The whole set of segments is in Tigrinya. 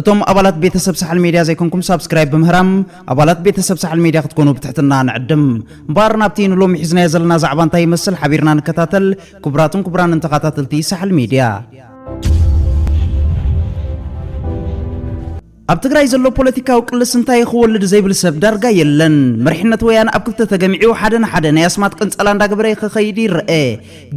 እቶም ኣባላት ቤተሰብ ሳሕል ሜድያ ዘይኮንኩም ሳብስክራይብ ብምህራም ኣባላት ቤተሰብ ሳሕል ሜድያ ክትኮኑ ብትሕትና ንዕድም። እምበኣር ናብቲ ንሎሚ ሒዝናዮ ዘለና ዛዕባ እንታይ ይመስል ሓቢርና ንከታተል ክቡራትን ክቡራንን ተኻታተልቲ ሳሕል ሜድያ። ኣብ ትግራይ ዘሎ ፖለቲካዊ ቅልስ እንታይ ክወልድ ዘይብል ሰብ ዳርጋ የለን። መሪሕነት ወያነ ኣብ ክልተ ተገሚዑ ሓደ ንሓደ ናይ ኣስማት ቅንጸላ እንዳገበረ ክኸይድ ይረአ።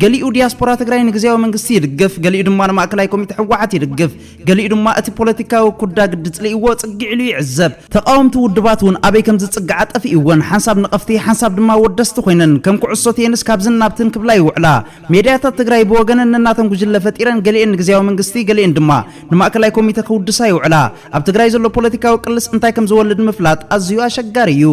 ገሊኡ ዲያስፖራ ትግራይ ንግዝያዊ መንግስቲ ይድግፍ፣ ገሊኡ ድማ ንማእከላይ ኮሚተ ህወሓት ይድግፍ። ገሊኡ ድማ እቲ ፖለቲካዊ ኩዳ ግዲ ጽሊእዎ ጽግዕ ኢሉ ይዕዘብ። ተቓወምቲ ውድባት እውን ኣበይ ከም ዝጽግዓ ጠፊእወን፣ ሓንሳብ ነቐፍቲ ሓንሳብ ድማ ወደስቲ ኮይነን ከም ኩዕሶ ቴንስ ካብዝን ናብትን ክብላ ይውዕላ። ሜድያታት ትግራይ ብወገነን ነናተን ጉጅለ ፈጢረን ገሊኤን ንግዝያዊ መንግስቲ ገሊኤን ድማ ንማእከላይ ኮሚተ ክውድሳ ይውዕላ። ኣብ ትግራይ ዘሎ ፖለቲካዊ ቅልስ እንታይ ከም ዝወልድ ምፍላጥ ኣዝዩ ኣሸጋሪ እዩ።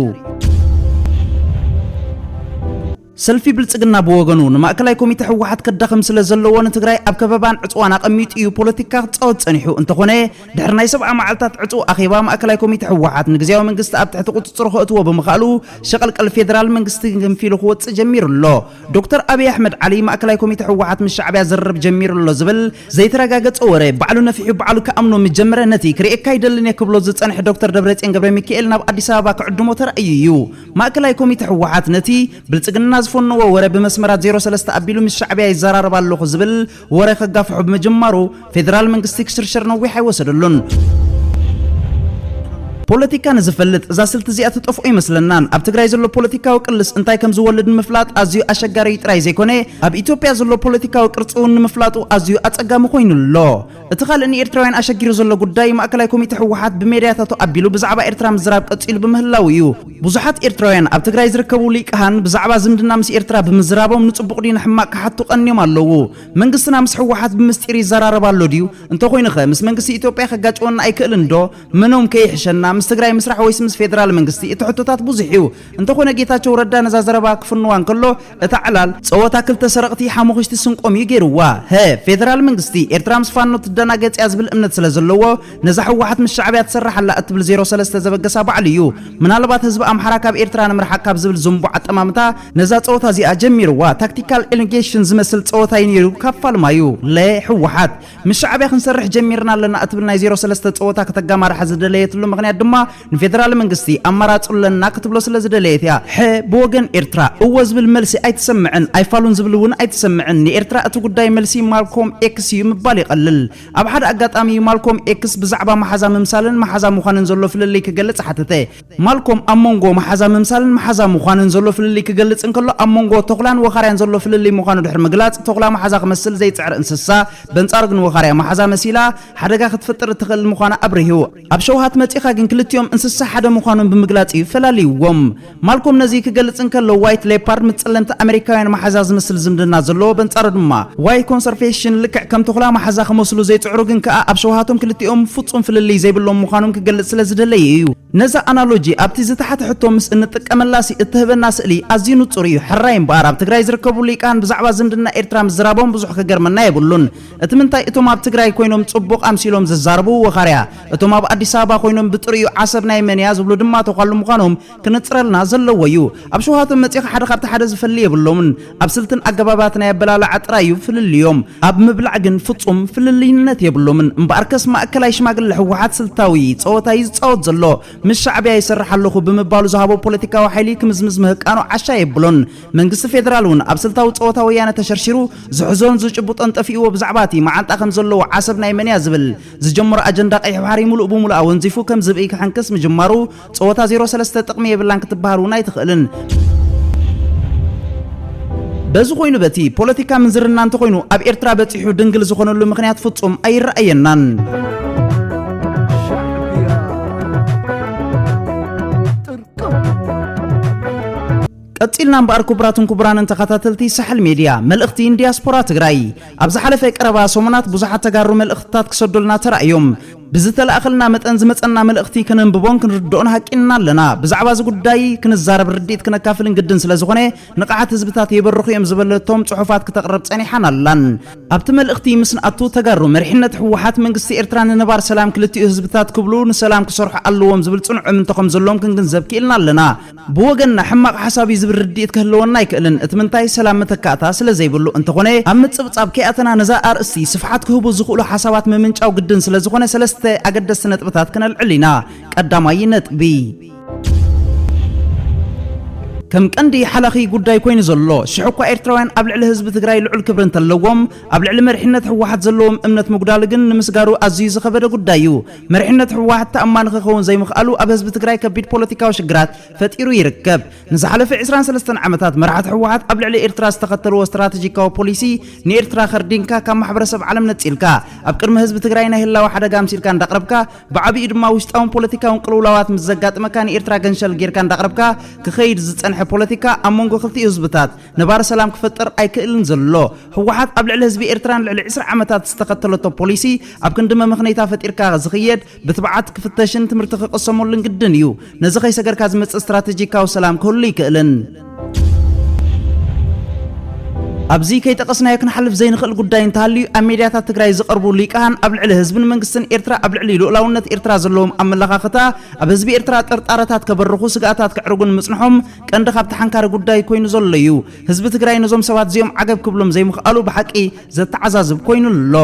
ሰልፊ ብልፅግና ብወገኑ ንማእከላይ ኮሚቴ ህወሓት ከዳኽም ስለዘለዎ ንትግራይ ኣብ ከበባን ዕፅዋን ኣቐሚጡ እዩ ፖለቲካ ክፃወት ፀኒሑ። እንተኾነ ድሕሪ ናይ ሰብዓ መዓልታት ዕፅው ኣኼባ ማእከላይ ኮሚቴ ህወሓት ንግዝያዊ መንግስቲ ኣብ ትሕቲ ቁፅፅሩ ከእትዎ ብምኽኣሉ ሸቐልቀል ፌደራል መንግስቲ ገንፊሉ ክወፅእ ጀሚሩ ኣሎ። ዶክተር ኣብይ ኣሕመድ ዓሊ ማእከላይ ኮሚቴ ህወሓት ምስ ሻዕቢያ ዝርርብ ጀሚሩ ኣሎ ዝብል ዘይተረጋገፀ ወረ ባዕሉ ነፊሑ ባዕሉ ክኣምኖ ምጀመረ ነቲ ክርእየካ ኣይደልን እየ ክብሎ ዝፀንሐ ዶክተር ደብረፅዮን ገብረሚካኤል ናብ ኣዲስ ኣበባ ክዕድሞ ተራእዩ እዩ። ማእከላይ ኮሚተ ህወሓት ነቲ ብልጽግና ዝፈነዎ ወረ ብመስመራት ዜሮ ሰለስተ ኣቢሉ ምስ ሻዕብያ ይዘራረብ ኣለኹ ዝብል ወረ ከጋፍሖ ብምጅማሩ ፌደራል መንግስቲ ክሽርሸር ነዊሕ ኣይወሰደሉን። ፖለቲካ ንዝፈልጥ እዛ ስልቲ እዚኣ ትጠፍኦ ይመስለናን ኣብ ትግራይ ዘሎ ፖለቲካዊ ቅልስ እንታይ ከም ዝወልድ ንምፍላጥ ኣዝዩ ኣሸጋሪ ጥራይ ዘይኮነ ኣብ ኢትዮጵያ ዘሎ ፖለቲካዊ ቅርጺ እውን ንምፍላጡ ኣዝዩ ኣጸጋሚ ኮይኑ ኣሎ። እቲ ካልእ ንኤርትራውያን ኣሸጊሩ ዘሎ ጉዳይ፣ ማእከላይ ኮሚተ ህወሓት ብሜድያታቱ ኣቢሉ ብዛዕባ ኤርትራ ምዝራብ ቀጺሉ ብምህላዉ እዩ። ብዙሓት ኤርትራውያን ኣብ ትግራይ ዝርከቡ ሊቃሃን ብዛዕባ ዝምድና ምስ ኤርትራ ብምዝራቦም ንጽቡቕ ድዩ ንሕማቕ ክሓቱ ቀንዮም ኣለዉ። መንግስትና ምስ ህወሓት ብምስጢር ይዘራረብ ኣሎ ድዩ? እንተኾይኑኸ ምስ መንግስቲ ኢትዮጵያ ከጋጭወና ኣይክእልን ዶ? መኖም ከይሕሸና ምስ ትግራይ ምስራሕ ወይስ ምስ ፌደራል መንግስቲ? እቲ ሕቶታት ብዙሕ እዩ። እንተኾነ ጌታቸው ረዳ ነዛ ዘረባ ክፍንዋ እንከሎ እታ ዕላል ጸወታ ክልተ ሰረቕቲ ሓሙኽሽቲ ስንቆም እዩ ጌርዋ። ህ። ፌደራል መንግስቲ ኤርትራ ምስ ፋኖ ትደናገጽ እያ ዝብል እምነት ስለ ዘለዎ ነዛ ህወሓት ምስ ሻዕብያ ትሰርሕ ኣላ እትብል ዜሮ ሰለስተ ዘበገሳ ባዕሉ እዩ ምናልባት ህዝቢ ኣምሓራ ካብ ኤርትራ ንምርሓቅ ካብ ዝብል ዝንቡዕ ኣጠማምታ ነዛ ጸወታ እዚኣ ጀሚርዋ። ታክቲካል ኤሊጌሽን ዝመስል ጸወታ እዩ ኔሩ ካብ ፋልማዩ። ለ። ህወሓት ምስ ሻዕብያ ክንሰርሕ ጀሚርና ኣለና እትብል ናይ ዜሮ ሰለስተ ጸወታ ከተጋማርሓ ዝደለየትሉ ምኽንያት ድማ ንፌደራል መንግስቲ ኣማራጺ ኣለና ክትብሎ ስለ ዝደለየት እያ። ሐ ብወገን ኤርትራ እወ ዝብል መልሲ ኣይተሰምዐን፣ ኣይፋሉን ዝብል እውን ኣይተሰምዐን። ንኤርትራ እቲ ጉዳይ መልሲ ማልኮም ኤክስ እዩ ምባል ይቐልል። ኣብ ሓደ ኣጋጣሚ እዩ ማልኮም ኤክስ ብዛዕባ መሓዛ ምምሳልን መሓዛ ምዃንን ዘሎ ፍልልይ ክገልጽ ሓተተ። ማልኮም ኣብ መንጎ መሓዛ ምምሳልን መሓዛ ምዃንን ዘሎ ፍልልይ ክገልጽ እንከሎ ኣብ መንጎ ተኹላን ወኻርያን ዘሎ ፍልልይ ምዃኑ ድሕሪ ምግላጽ ተኹላ መሓዛ ክመስል ዘይጽዕር እንስሳ በንጻሩ ግን ወኻርያ መሓዛ መሲላ ሓደጋ ክትፈጥር እትኽእል ምዃና ኣብሪሁ። ኣብ ሸውሃት መጺኻ ግን ክልቲኦም እንስሳ ሓደ ምዃኖም ብምግላጽ እዩ ፈላልይዎም። ማልኮም ነዚ ክገልጽ እንከሎ ዋይት ሌፓርድ ምስ ጸለምቲ ኣመሪካውያን መሓዛ ዝመስል ዝምድና ዘለዎ በንጻሩ ድማ ዋይት ኮንሰርፌሽን ልክዕ ከም ተኹላ መሓዛ ክመስሉ ዘይጽዕሩ ግን ከኣ ኣብ ሸውሃቶም ክልቲኦም ፍጹም ፍልልይ ዘይብሎም ምዃኖም ክገልጽ ስለ ዝደለየ እዩ። ነዛ ኣናሎጂ ኣብቲ ዝተሓተ ሕቶ ምስ እንጥቀመላሲ እትህበና ስእሊ ኣዝዩ ንጹር እዩ። ሕራይ እምበኣር ኣብ ትግራይ ዝርከቡ ሊቃን ብዛዕባ ዝምድና ኤርትራ ምዝራቦም ብዙሕ ክገርመና የብሉን። እቲ ምንታይ እቶም ኣብ ትግራይ ኮይኖም ጽቡቕ ኣምሲሎም ዝዛረቡ ወኻርያ፣ እቶም ኣብ ኣዲስ ኣበባ ኮይኖም ብጥሪኡ ዓሰብ ናይ መን እያ ዝብሉ ድማ ተዃሉ ምዃኖም ክንጽረልና ዘለዎ እዩ። ኣብ ሸውሃቶም መጺኻ ሓደ ካብቲ ሓደ ዝፈሊ የብሎምን። ኣብ ስልትን ኣገባባት ናይ ኣበላልዓ ጥራይ እዩ ፍልልዮም። ኣብ ምብላዕ ግን ፍጹም ፍልልይነት የብሎምን። እምበኣርከስ ማእከላይ ሽማግለ ህወሓት ስልታዊ ጸወታ እዩ ዝጻወት ዘሎ። ምስ ሻዕብያ ይሰርሕ ኣለኹ ብምባሉ ዝሃቦ ፖለቲካዊ ሓይሊ ክምዝምዝ ምህቃኑ ዓሻ የብሎን። መንግስቲ ፌደራል እውን ኣብ ስልታዊ ጸወታ ወያነ ተሸርሺሩ ዝሕዞን ዝጭብጦን ጠፊእዎ ብዛዕባ እቲ መዓንጣ ከም ዘለዎ ዓሰብ ናይ መን እያ ዝብል ዝጀመሮ ኣጀንዳ ቀይሕ ባሕሪ ምሉእ ብምሉእ ኣወንዚፉ ከም ዝብኢ ክሕንክስ ምጅማሩ ጸወታ ዜሮ ሰለስተ ጥቕሚ የብላን ክትበሃል እውን ኣይትኽእልን። በዚ ኮይኑ በቲ ፖለቲካ ምንዝርና እንተኾይኑ ኣብ ኤርትራ በጺሑ ድንግል ዝኾነሉ ምኽንያት ፍጹም ኣይረኣየናን። ቀጺልና እምበኣር ኩቡራትን ኩቡራንን ተኻታተልቲ ሳሕል ሜድያ መልእኽቲ ን ዲያስፖራ ትግራይ ኣብ ዝሓለፈ ቀረባ ሰሙናት ብዙሓት ተጋሩ መልእኽትታት ክሰዱልና ተራእዮም ብዝተላእኸልና መጠን ዝመጸና መልእኽቲ ከነንብቦን ክንርድኦን ሃቂንና ኣለና ብዛዕባ እዚ ጉዳይ ክንዛረብ ርድኢት ክነካፍልን ግድን ስለ ዝኾነ ንቕሓት ህዝብታት የበርኹ እዮም ዝበለቶም ጽሑፋት ክተቕርብ ጸኒሓን ኣላን ኣብቲ መልእኽቲ ምስ ንኣቱ ተጋሩ መሪሕነት ህወሓት መንግስቲ ኤርትራ ንነባር ሰላም ክልቲኡ ህዝብታት ክብሉ ንሰላም ክሰርሑ ኣለዎም ዝብል ጽኑዕ እምንቶ ከም ዘለዎም ክንግንዘብ ክኢልና ኣለና ብወገንና ሕማቕ ሓሳብ እዩ ዝብል ርድኢት ክህልወና ኣይክእልን፣ እቲ ምንታይ ሰላም መተካእታ ስለ ዘይብሉ፣ እንተኾነ ኣብ ምጽብጻብ ከይኣተና ነዛ ኣርእስቲ ስፍሓት ክህቡ ዝኽእሉ ሓሳባት ምምንጫው ግድን ስለ ዝኾነ ሰለስተ ኣገደስቲ ነጥብታት ክነልዕል ኢና፣ ቀዳማይ ነጥቢ። ከም ቀንዲ ሓላኺ ጉዳይ ኮይኑ ዘሎ፣ ሽሕ እኳ ኤርትራውያን ኣብ ልዕሊ ህዝቢ ትግራይ ልዑል ክብሪ እንተለዎም፣ ኣብ ልዕሊ መሪሕነት ህወሓት ዘለዎም እምነት ምጉዳሉ ግን ንምስጋሩ ኣዝዩ ዝኸበደ ጉዳይ እዩ። መሪሕነት ህወሓት ተኣማኒ ክኸውን ዘይምኽኣሉ ኣብ ህዝቢ ትግራይ ከቢድ ፖለቲካዊ ሽግራት ፈጢሩ ይርከብ። ንዝሓለፈ ዕስራን ሰለስተን ዓመታት መራሕቲ ህወሓት ኣብ ልዕሊ ኤርትራ ዝተኸተልዎ ስትራተጂካዊ ፖሊሲ ንኤርትራ ከርዲንካ ካብ ማሕበረሰብ ዓለም ነጺልካ ኣብ ቅድሚ ህዝቢ ትግራይ ናይ ህላወ ሓደጋ ኣምሲልካ እንዳቕረብካ ብዓብይኡ ድማ ውሽጣውን ፖለቲካውን ቅልውላዋት ምስ ዘጋጥመካ ንኤርትራ ገንሸል ጌርካ እንዳቕረብካ ክኸይድ ዝጸንሐ ፖለቲካ ኣብ መንጎ ክልቲኡ ህዝብታት ነባሪ ሰላም ክፈጥር ኣይክእልን ዘሎ። ህወሓት ኣብ ልዕሊ ህዝቢ ኤርትራ ንልዕሊ ዕስራ ዓመታት ዝተኸተለቶ ፖሊሲ ኣብ ክንዲ መመኽነይታ ፈጢርካ ዝኽየድ ብትብዓት ክፍተሽን ትምህርቲ ክቕሰመሉን ግድን እዩ። ነዚ ከይሰገርካ ዝመጽእ ስትራተጂካዊ ሰላም ክህሉ ኣይክእልን። ኣብዚ ከይጠቐስናዮ ክንሓልፍ ዘይንኽእል ጉዳይ እንተሃልዩ ኣብ ሜድያታት ትግራይ ዝቐርቡ ሊቃን ኣብ ልዕሊ ህዝብን መንግስትን ኤርትራ ኣብ ልዕሊ ልኡላውነት ኤርትራ ዘለዎም ኣመለኻኽታ ኣብ ህዝቢ ኤርትራ ጥርጣረታት ከበርኹ ስግኣታት ከዕርጉን ምጽንሖም ቀንዲ ካብቲ ሓንካሪ ጉዳይ ኮይኑ ዘሎ እዩ። ህዝቢ ትግራይ ነዞም ሰባት እዚኦም ዓገብ ክብሎም ዘይምኽኣሉ ብሓቂ ዘተዓዛዝብ ኮይኑ ኣሎ።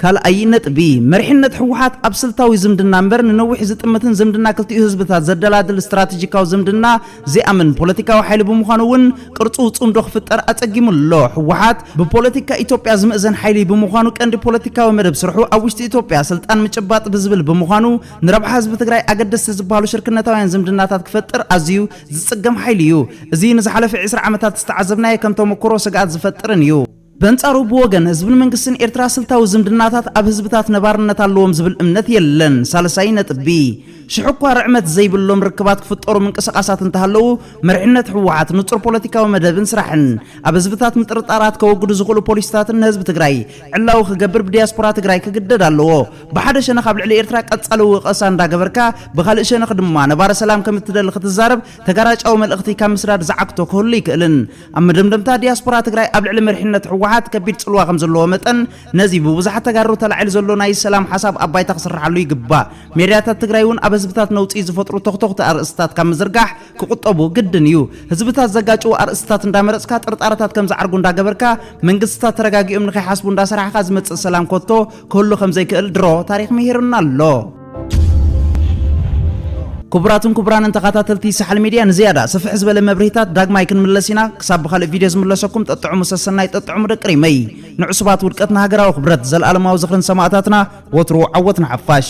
ካልኣይ ነጥቢ፣ መሪሕነት ህወሓት ኣብ ስልታዊ ዝምድና እምበር ንነዊሕ ዝጥምትን ዝምድና ክልቲኡ ህዝብታት ዘደላድል ስትራቴጂካዊ ዝምድና ዘይኣምን ፖለቲካዊ ሓይሊ ብምዃኑ እውን ቅርጹ ጽምዶ ክፍጠር ኣጸጊሙ ኣሎ። ህወሓት ብፖለቲካ ኢትዮጵያ ዝምእዘን ሓይሊ ብምዃኑ ቀንዲ ፖለቲካዊ መደብ ስርሑ ኣብ ውሽጢ ኢትዮጵያ ስልጣን ምጭባጥ ብዝብል ብምዃኑ ንረብሓ ህዝቢ ትግራይ ኣገደስቲ ዝበሃሉ ሽርክነታውያን ዝምድናታት ክፈጥር ኣዝዩ ዝፅገም ሓይሊ እዩ። እዚ ንዝሓለፈ ዕስራ ዓመታት ዝተዓዘብናዮ ከም ተሞክሮ ስግኣት ዝፈጥርን እዩ። በንጻሩ ብወገን ህዝብን መንግስትን ኤርትራ ስልታዊ ዝምድናታት ኣብ ህዝብታት ነባርነት ኣለዎም ዝብል እምነት የለን። ሳልሳይ ነጥቢ፣ ሽሕ'ኳ ርዕመት ዘይብሎም ርክባት ክፍጠሩ ምንቅስቓሳት እንተሃለዉ፣ መሪሕነት ህወሓት ንጹር ፖለቲካዊ መደብን ስራሕን፣ ኣብ ህዝብታት ምጥርጣራት ከወግዱ ዝኽእሉ ፖሊሲታትን ንህዝቢ ትግራይ ዕላዊ ክገብር ብዲያስፖራ ትግራይ ክግደድ ኣለዎ። ብሓደ ሸነኽ ኣብ ልዕሊ ኤርትራ ቀጻሊ ወቐሳ እንዳገበርካ፣ ብኻልእ ሸነኽ ድማ ነባሪ ሰላም ከም እትደሊ ክትዛረብ፣ ተጋራጫዊ መልእኽቲ ካብ ምስዳድ ዝዓግቶ ክህሉ ኣይክእልን። ኣብ መደምደምታ፣ ዲያስፖራ ትግራይ ኣብ ልዕሊ መሪሕነት ህወሓት ከቢድ ጽልዋ ከም ዘለዎ መጠን፣ ነዚ ብብዙሓት ተጋሩ ተላዒሉ ዘሎ ናይ ሰላም ሓሳብ ኣብ ባይታ ክስርሓሉ ይግባእ። ሜድያታት ትግራይ እውን ኣብ ህዝብታት ነውጺ ዝፈጥሩ ቶኽቶኽቲ ኣርእስትታት ካብ ምዝርጋሕ ክቑጠቡ ግድን እዩ። ህዝብታት ዘጋጭዉ ኣርእስትታት እንዳመረጽካ፣ ጥርጣረታት ከም ዝዓርጉ እንዳገበርካ፣ መንግስትታት ተረጋጊኦም ንኸይሓስቡ እንዳሰራሕኻ ዝመጽእ ሰላም ኮቶ ኩሉ ከም ዘይክእል ድሮ ታሪኽ ምሂሩና ኣሎ። ክቡራትን ክቡራንን ተኸታተልቲ ሳሕል ሚድያ ንዝያዳ ስፍሕ ዝበለ መብርሂታት ዳግማይ ክንምለስ ኢና። ክሳብ ብኻልእ ቪድዮ ዝምለሰኩም ጠጥዕሙ ሰሰናይ ጠጥዕሙ ደቂ ሪመይ። ንዕሱባት ውድቀት ንሃገራዊ ክብረት። ዘልኣለማዊ ዝኽሪ ንሰማእታትና ወትሩ ዓወት ንሓፋሽ።